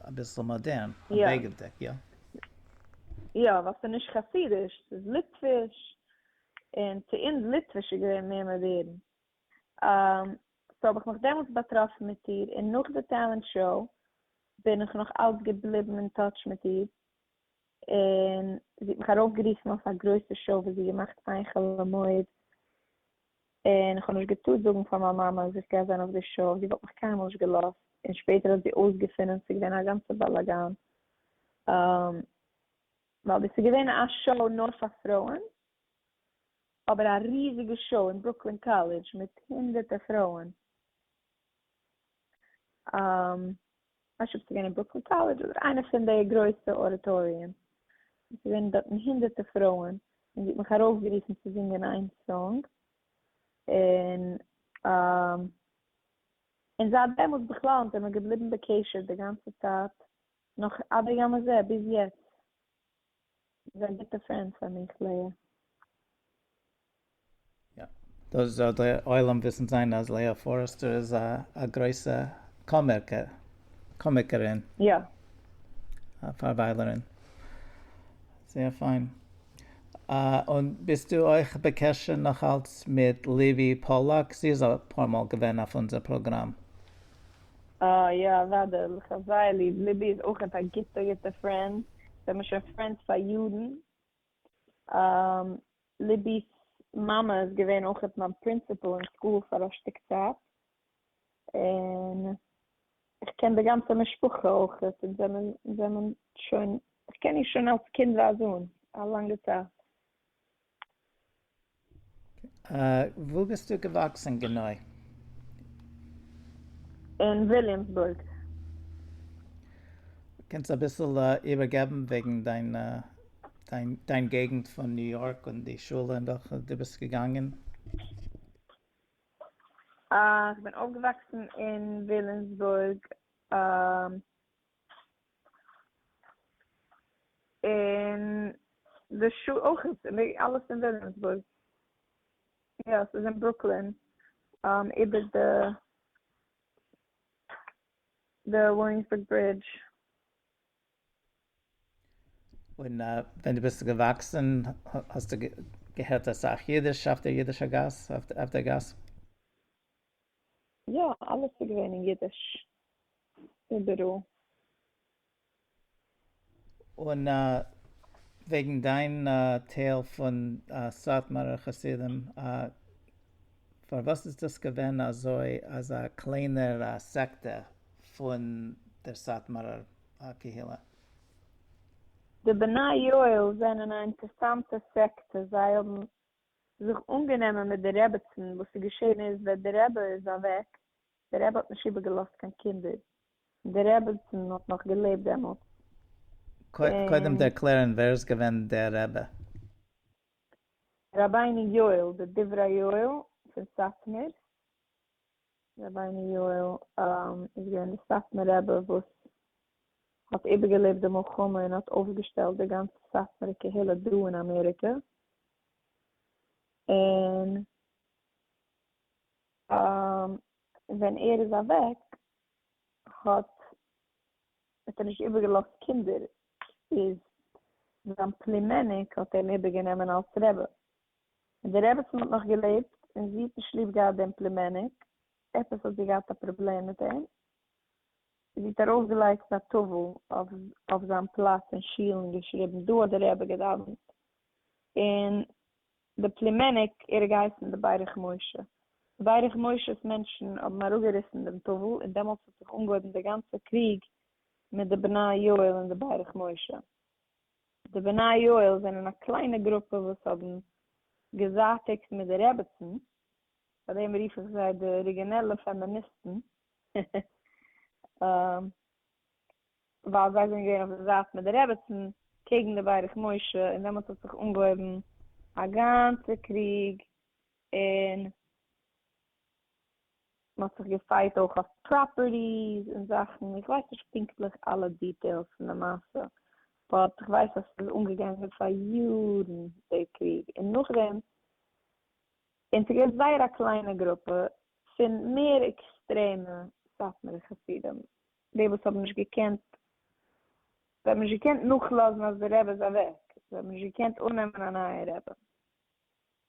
אביסל מאדערן, א בגד דעק, יא. יא, ווייל ס'איז נישט חסידיש, ס'איז ליטוויש, און צו אונז ליטוויש איז געווען מער מאדערן. סאו האב איך מיך דעמאלטס באטראפן מיט איר, און נאך די טעלענט שאו בין איך נאך אלץ געבליבן אין טאטש מיט איר, און זי האט מיך ארויפגערופן אויף א גרויסע שאו וואס זי האט געמאכט איין חול המועד, און איך האב נישט געטארט זאגן פאר מיין מאמע אז איך גיי זיין אויף די שאו, זי וואלט מיך קיינמאל נישט געלאזט, און שפעטער האט זי אויסגעפונען ס'איז געווען א גאנצע באלאגאן, ווייל דאס איז געווען א שאו נאר פאר פרויען, אבער א ריזיגע שאו אין ברוקלין קאלעדזש מיט הונדערטער פרויען. איך שפיר צו גיין אין ברוקלין קאלעדזש אדער איינע פון די גרויסע אודיטאריומס, און עס איז געווען דארטן הונדערטע פרויען, און זי האט מיך ארויפגערופן צו זינגען איין סאנג, און און זייט דעמאלטס בכלל זעמער געבליבן בקשר די גאנצע צייט נאך עד היום הזה ביז יעצט. זיי ביטע פרענד פאר מיך לאה. יא, דאס זאל דער עולם וויסן זיין אז לאה פארעסטער איז א גרויסע קאמיקערין. יא. א פארוויילערין. זייער פיין. און ביסטו אויך בקשר נאכאלץ מיט ליווי פאללאק? זי איז אפאר מאל געווען אויף אונזער פראגראם. אה יא אוודאי, מיך האט זייער ליב, ליבי איז אויכעט א גוטע גוטע פרענד, זעמער שוין פרענדס פאר יארן, אה ליבי'ס מאמע איז געווען אויכעט מיין פרינסיפעל אין סקול פאר א שטיק צייט, און איך קען די גאנצע משפחה אויכעט, אונז זעמער זעמער שוין, איך קען איר שוין אלס קינד ווייז אן, א לאנגע צייט. וואו ביסטו געוואקסן גענוי? אין וויליאמסבורג. קענסט אביסל איבערגעבן וועגן דיין דיין געגנט פון ניו יארק און די שולע אין וועלכע דו ביסט געגאנגען? איך בין אויפגעוואקסן אין וויליאמסבורג. און די שו ת אויך, אלעס אין וויליאמסבורג, יא ס'איז אין ברוקלין איבער די די וויליאמסבורג ברידזש. און ווען דו ביסט געוואקסן האסטו געהערט אסאך אידיש אויף דער אידישער גאס אויף דער גאס? יא, אלעס איז געווען אין אידיש איבעראל. און וועגן דיין טייל פון סאטמארער חסידים, פארוואס איז דאס געווען אזוי אז א קליינער סעקטע פון דער סאטמארער קהילה? די בני יואל זענען א אינטערסאנטע סעקטע, זיי האבן זיך אנגענומען מיט די רעבעצן, וואס איז געשען איז ווען די רעבע איז אוועק, די רעבע האט נישט איבער געלאזט קיין קינדער, און די רעבעצן האט נאך געלעבט דעמאלטס, קודם און. ערקלערן ווער איז געווען דער רעבע. רבינו יואל, די דברי יואל פון סאטמאר, רבינו יואל איז געווען די סאטמאר רעבע וואס האט איבערגעלעבט די מלחמה און האט אויפגעשטעלט די גאנצע סאטמארע קהילה דא אין אמעריקע, און ווען ער איז אוועק האט האט ער נישט איבערגעלאזט קינדער, איז זיין פלימעניק האט אים איבערגענומען אלס רבי, און די רעבעצן האט נאך געלעבט און זי האט נישט ליב געהאט דעם פלימעניק, עפעס האט זי געהאט א פראבלעם מיט אים, זי האט ארויפגעלייגט א טאוול אויף זיין פלאץ אין שול און געשריבן דא האט דער רבי געדאווענט און די פלימעניק ער איז געהייסן די ברך משה. די ברך משה'ס מענטשן האבן אראפגעריסן דעם טאוול און דעמאלטס האט זיך אנגעהויבן די גאנצע קריג מיט די בני יואל און די ברך משה. די בני יואל זענען א קליינע גרופע וואס האבן געזייטיגט מיט די רעבעצן, פאר דעם רוף איך זיי די אריגינעלע פעמיניסטן. ווייל זיי זענען געווען אויף די זייט מיט די רעבעצן קעגן די ברך משה און דעמאלטס האט זיך אנגעהויבן א גאנצע קריג און מען האט זיך געפייט אויך אויף פראפערטיס און זאכן, איך ווייס נישט פונקטליך אלע דיטעילס פון די מעשה באט איך ווייס אז ס'איז אנגעגאנגען פאר יארן די קריג און נאכדעם. און ס'געווען זייער א קליינע גרופע פון מער עקסטרעמע סאטמארע חסידים, די וואס האבן נישט געקענט, זיי האבן נישט געקענט נאכלאזן אז דער רבי איז אוועק, זיי האבן נישט געקענט אננעמען א נייע רבי.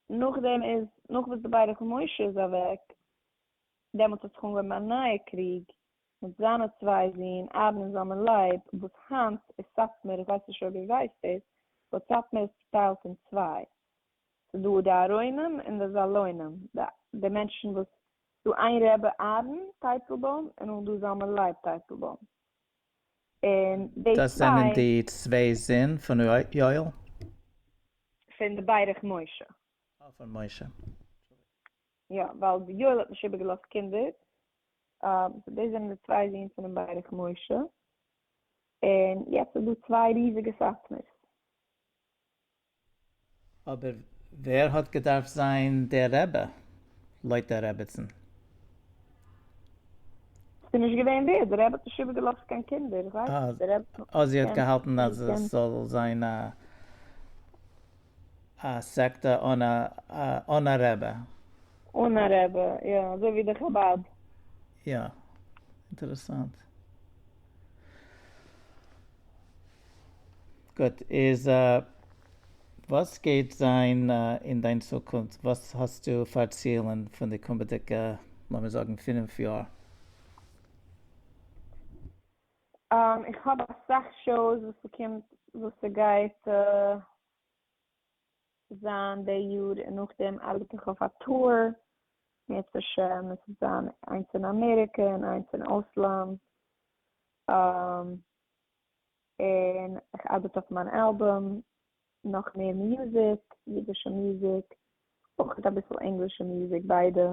נאכדעם איז, נאך וואס די בית רחל משה איז אוועק, דעמאלטס האט זיך אנגעהויבן א נייע קריג מיט זיינע צוויי זון אהרן און זלמן לייב, וואס היינט איז סאטמאר, איך ווייס נישט אויב איר ווייסט דאס, באט סאטמאר איז צוטיילט אין צוויי, ס'דא די ארוינים און די זאלוינים, די מענטשן וואס, ס'דא איין ר' אהרן טייטלבוים און נאך דא זלמן לייב טייטלבוים, און די צוויי. דאס זענען די צוויי זון פון ר' יואל? פון די ברך משה. אה פון משה. יא, ווייל די יואל האט נישט איבערגעלאזט קינדער, סאו דאס זענען די צוויי זון פונעם ברך משה, און יעצט איז דא צוויי ריזיגע סאטמאר'ס. אבער ווער האט געדארפט זיין דער רבי לויט דער רביצן? ס'איז נישט געווען ווער, דער רבי האט נישט איבערגעלאזט קיין קינדער, איך ווייס נישט, דער רבי האט אזי האט געהאלטן אז עס זאל זיין א א סעקטע אן אן א רבי. אן א רבי, יא, אזוי ווי די חבד. יא, אינטערעסאנט. גוט, איז וואס גייט זיין אין דיין צוקונפט? וואס האסטו פאר צילן פון די קומעדיגע לאמיר זאגן פינף יאר? איך האב אסאך שאוס וואס ס'קומט וואס ס'גייט זיין די יאר און נאכדעם ארבעט איך אויף א טור, מערצעשע עס וועט זיין איינס אין אמעריקע און איינס אין אויסלאנד, און איך ארבעט אויף מיין אלבום, נאך מער מוזיק, אידישע מוזיק, אויך אביסל ענגלישע מוזיק, ביידע,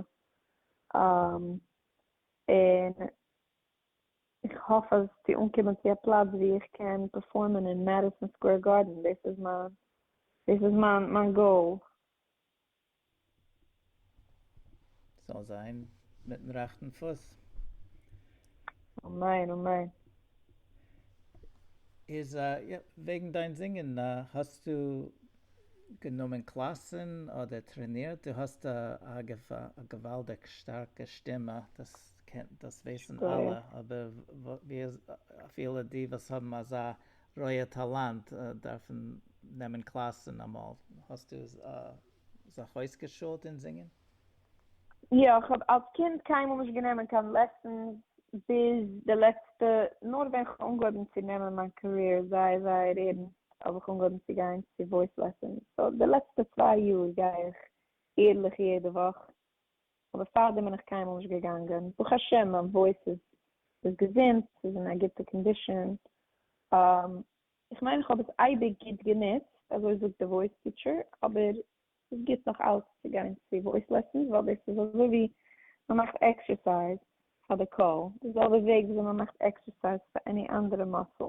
און איך האף אז צו אנקומען צו א פלאץ ווי איך קען פערפארמען אין מעדיסאן סקווער גארדען, דאס איז מיין, דאס איז מיין גאול. זאל זיין מיטן רעכטן פוס. אמן אמן. איז א וועגן דיין זינגען האסטו גענומען קלאסען אדער טרענירט דו האסט א געוואלדיג שטארקע שטימע דאס דאס ווייסען אלע אבער אפילו די וואס האבן אזא רויע טאלאנט דארפן נעמען קלאסן אמאל. האסטו זיך אויסגעשולט אין זינגען? יא, איך האב אלס קינד קיינמאל נישט גענומען קיין לעסענס ביז די לעצטע, נאר ווען כ'האב אנגעהויבן צו נעמען מיין קאריער זייער זייער ערנסט האב איך אנגעהויבן צו גיין צו וואויס לעסענס, סאו די לעצטע צוויי יאר גיי איך ערליך יעדע וואך, אבער פארדעם בין איך קיינמאל נישט געגאנגען, ברוך השם מיין וואויס איז איז געזונט, ס'איז אין א גוטע קאנדישאן, איך מיין איך האב עס אייביג גוט גענוצט, אזוי זאגט די וואויס טיטשער, אבער ס'איז גוט נאך אלץ צו גיין צו וואויס לעסענס ווייל דאס איז אזוי ווי מען מאכט עקסערסייז פאר די קול, די זעלבע וועג וויאזוי מען מאכט עקסערסייז פאר עני אנדערע מאסעל.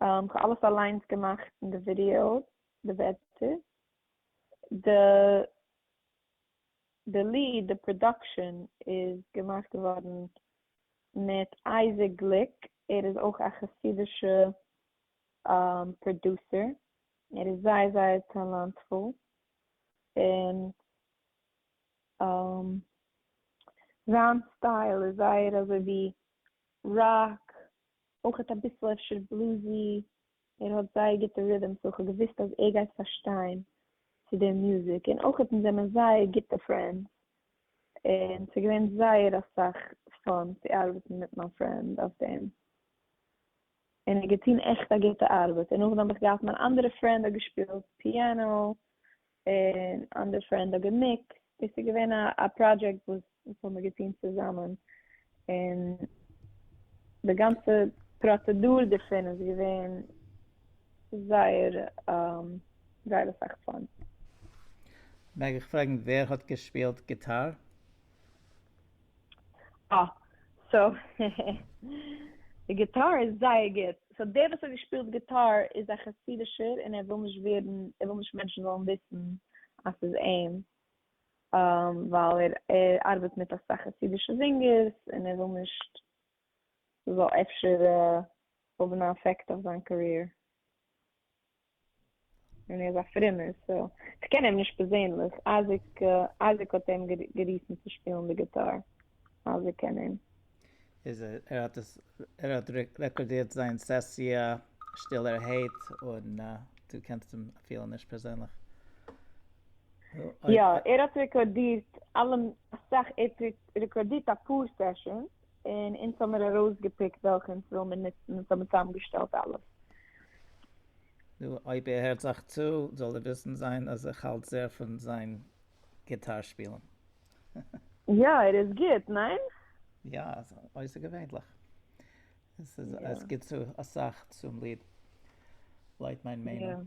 כ'האב אלעס אליינס געמאכט אין די ווידיאו, די ווערטער, די די ליד, די פראדאקשען איז געמאכט געווארן מיט אייזיק גליק, ער איז אויך א חסידישע פראדוסער, ער איז זייער זייער טאלאנטפול, און זיין סטייל איז זייער אזוי ווי ראק, אויכעט אביסל אפשר בלוזי, ער האט זייער גוטע רידעמס, סאו כ'האב געוואוסט אז ער גייט פארשטיין צו די מוזיק, און אויכעט אונז זעמיר זייער גוטע פרענדס, און ס'איז געווען זייער אסאך פאן צו ארבעטן מיט מיין פרענד אויף דעם, און ער האט געטון עכט א גוטע ארבעט, און נאכדעם האב איך געהאט מיין אנדערע פרענד האט געשפילט פיאנא, און אנדערש פאר ענדאגעמיק, דאס איז געווען א פראדזשעקט וואס האבן מיר געטון צוזאמען, און די גאנצע פראצעדור דערפון איז געווען זייער זייער אסאך פאן. מעג איך פרעגן ווער האט געשפילט גיטאר? אה, סאו העהעהע. די גיטאר איז זייער גוט. סאו דער וואס האט געשפילט גיטאר איז א חסידישער און ער וויל נישט ווערן, ער וויל נישט מענטשן זאלן וויסן אז ס'איז אים, ווייל ער ארבעט מיט אסאך חסידישע זינגערס און ער וויל נישט ס'זאל אפשר האבן א אפעקט אויף זיין קאריער. און ער איז א פרומער סא כ'קען אים נישט פערזענליך, אייזיק אייזיק האט אים גערופן צו שפילן די גיטאר, אייזיק קען אים. איז ער האט עס ער האט רעקארדירט זיין סעסיע שטילערהייט און דו קענסט אים אפילו נישט פערזענליך? יא ער האט רעקארדירט אלע אסאך ער האט רעקארדירט אפאר סעשאנס. און אונז האמיר ארויסגעפיקט וועלכע אונז וויל מיר נוצן אונז האמיר צוזאמגעשטעלט אלעס. נו, אויב איר הערט זיך צו, זאל איר וויסן זיין אז איך האלט זער פון זיין גיטאר שפילן. יא, ער איז גוט, ניין? יא, אויסערגעווענליך. עס גיט צו אסאך צום ליד, לויט מיין מיינונג.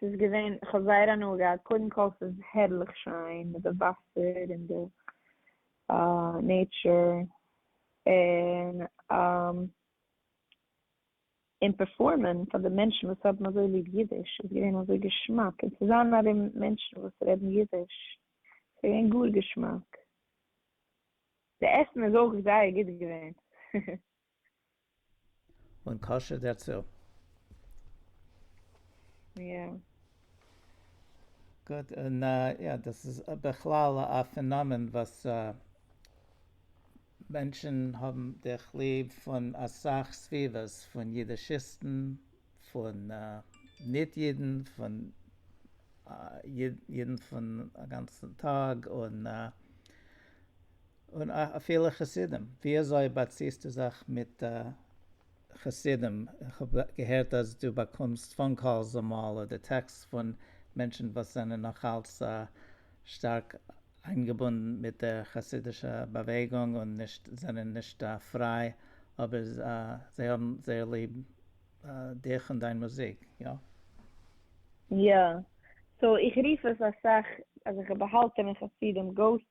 ס'איז געווען, כ'האב זייער הנאה געהאט, קודם כל ס'איז הערליך שיין מיט די וואסער און די נעטשור, און און פערפארמען פאר די מענטשן וואס האבן אזוי ליב אידיש איז געווען אזוי געשמאק, און צו זיין ארום מענטשן וואס רעדן אידיש, ס'געווען גאר געשמאק, די עסן איז אויך זייער גוט געווען. און כשר דערצו. יא. גוט, און יא, דאס איז בכלל א פענאמען וואס מענטשן האבן דיך ליב פון אסאך סביבות, פון אידישיסטן, פון ניט אידן, פון אידן פון א גאנצן טאג, און און אפילו חסידים, ווי אזוי באציסטו זיך מיט חסידים? איך האב געהערט אז דו באקומסט פאון קאלס אמאל אדער טעקסט פון מענטשן וואס זענען נאכאלץ שטארק איינגעבונדן מיט דער חסידישע באוועגונג און נישט זענען נישט פריי אבער זיי האבן זייער ליב דיך און דיין מוזיק, יא? יא, סאו איך רוף עס אסאך אז איך האב באהאלטענע חסידים, גאוסט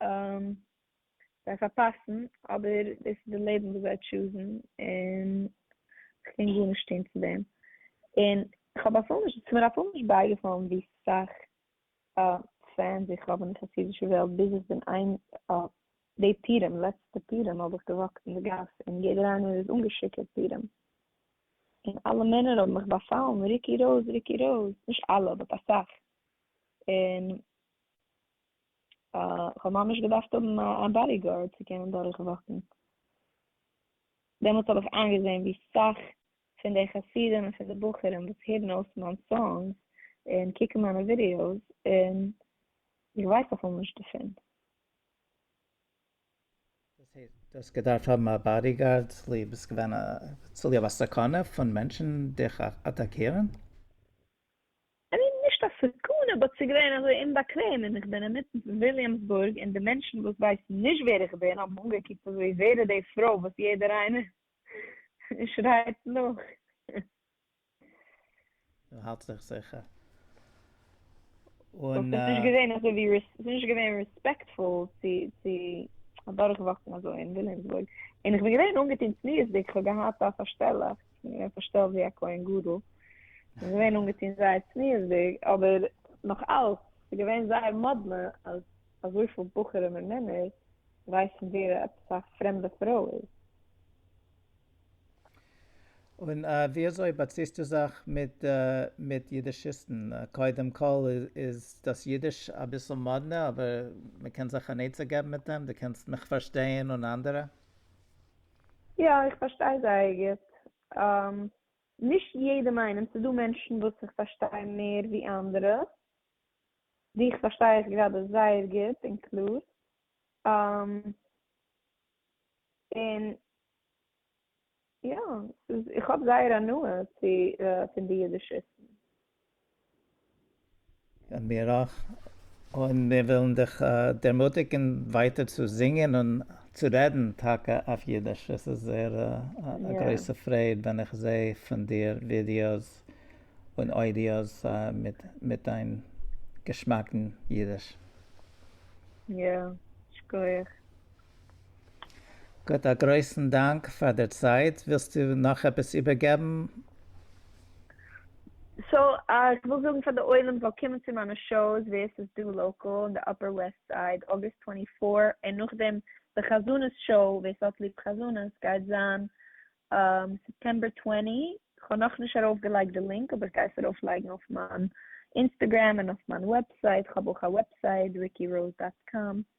און זיי פארפאסן, אבער דאס איז די לעבן וואס זיי טשוזן, און איך קען גארנישט טון צו דעם, און כ'האב אפילו נישט, ס'איז מיר אפילו נישט בייגעפאלן ווי סאך פענס איך האב אין די חסידישע וועלט, ביז איך בין איין די פורים, לעצטע פורים האב איך געוואקט אין די גאס, און יעדער איינער איז אנגעשיכורט פורים, און אלע מענער האבן מיך באפאלן, ריק איר אויס, ריק איר אויס, נישט אלע, באט אסאך, און כ'האב ממש געדארפט האבן א באדי גארד צו קענען דורך וואקן, דעמאלטס האב איך איינגעזען ווי סאך פון די חסידים און פון די בחורים וואס הערן אויס מיין סאנגס און קוקן מיינע ווידיאוס און איך ווייס אפילו נישט דערפון. דאס הייסט דו האסט געדארפט האבן א באדי גארד צוליב עס געווען צוליב א סכנה פון מענטשן דיך אטאקירן? און אים נישט א סכנה באט ס'געווען אזוי אומבאקוועם און כ'בין אינמיטן פון וויליאמסבורג און די מענטשן וואס ווייסן נישט ווער איך בין האבן אנגעקוקט אזוי ווער איז די פרוי וואס יעדער איינער שרייט נאך. און האלט זיך זיכער. און. ס'איז נישט געווען אזויווי ס'איז נישט געווען רעספעקטפול צו צו אדורכוואקן אזוי אין וויליאמסבורג און כ'בין געווען אנגעטון צניעות'דיג כ'האב געהאט א פארשטעלעך. איז געווען פארשטעלט ווי א כהן גדול, און געווען אנגעטון זייער צניעות'דיג, אבער נאך אלץ איז געווען זייער מאדנע אז אזויפיל בחורים און מענער ווייסן ווער עפעס א פרעמדע פרוי איז. און ווי אזוי באציסטו זיך מיט מיט אידישיסטן? קודם כל איז דאס אידיש אביסל מאדנע, אבער מ'קען זיך אן עצה געבן מיט דעם, דו קענסט מיך פארשטייען און אנדערע. יא איך פארשטיי זייער גוט, נישט יעדעם איינעם, ס'איז דא מענטשן וואס איך פארשטיי מער ווי אנדערע, דיך פארשטיי איך גראדע זייער גוט און קלאר, און יא, איך האב זייער הנאה פון די אידישיסטן. מיר אויך, און מיר ווילן דיך דערמוטיגן ווייטער צו זינגען און צו רעדן טאקע אויף אידיש, עס איז זייער א גרויסע פרייד ווען איך זעה פון דיר ווידיאוס און אודיאוס מיט דיין געשמאקן אידיש. יא, שכוח. גוט, א גרויסן דאנק פאר דער צייט, ווילסטו נאך עפעס איבערגעבן? סאו איך וויל זאגן פאר די עולם זאל קומען צו מיינע שאוס ווער ס'איז דא לאקאל אין די אפער וועסט סייד, אוגוסט טווענטי פאר, און נאכדעם די חזנות שאו, ווער ס'האט ליב חזנות, גייט זיין סעפטעמבער טווענטי, כ'האב נאכנישט ארויף געלייגט די לינק אבער כ'גיי עס ארויף לייגן אויף מיין אינסטעגרעם און אויף מיין וועבסייט, כ'האב אויך א וועבסייט, rickyroz דאט קאם.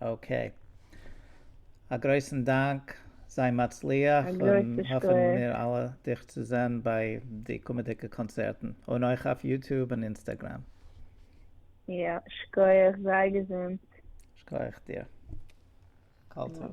אקעי. א גרויסן דאנק, זיי מצליח, און האפן מיר אלע דיך צו זען ביי די קומעדיגע קאנצערטן, און אויך אויף יוטוב און אינסטעגרעם. יא, שקויעך, זיי געזונט. שקויעך דיר. כל טוב.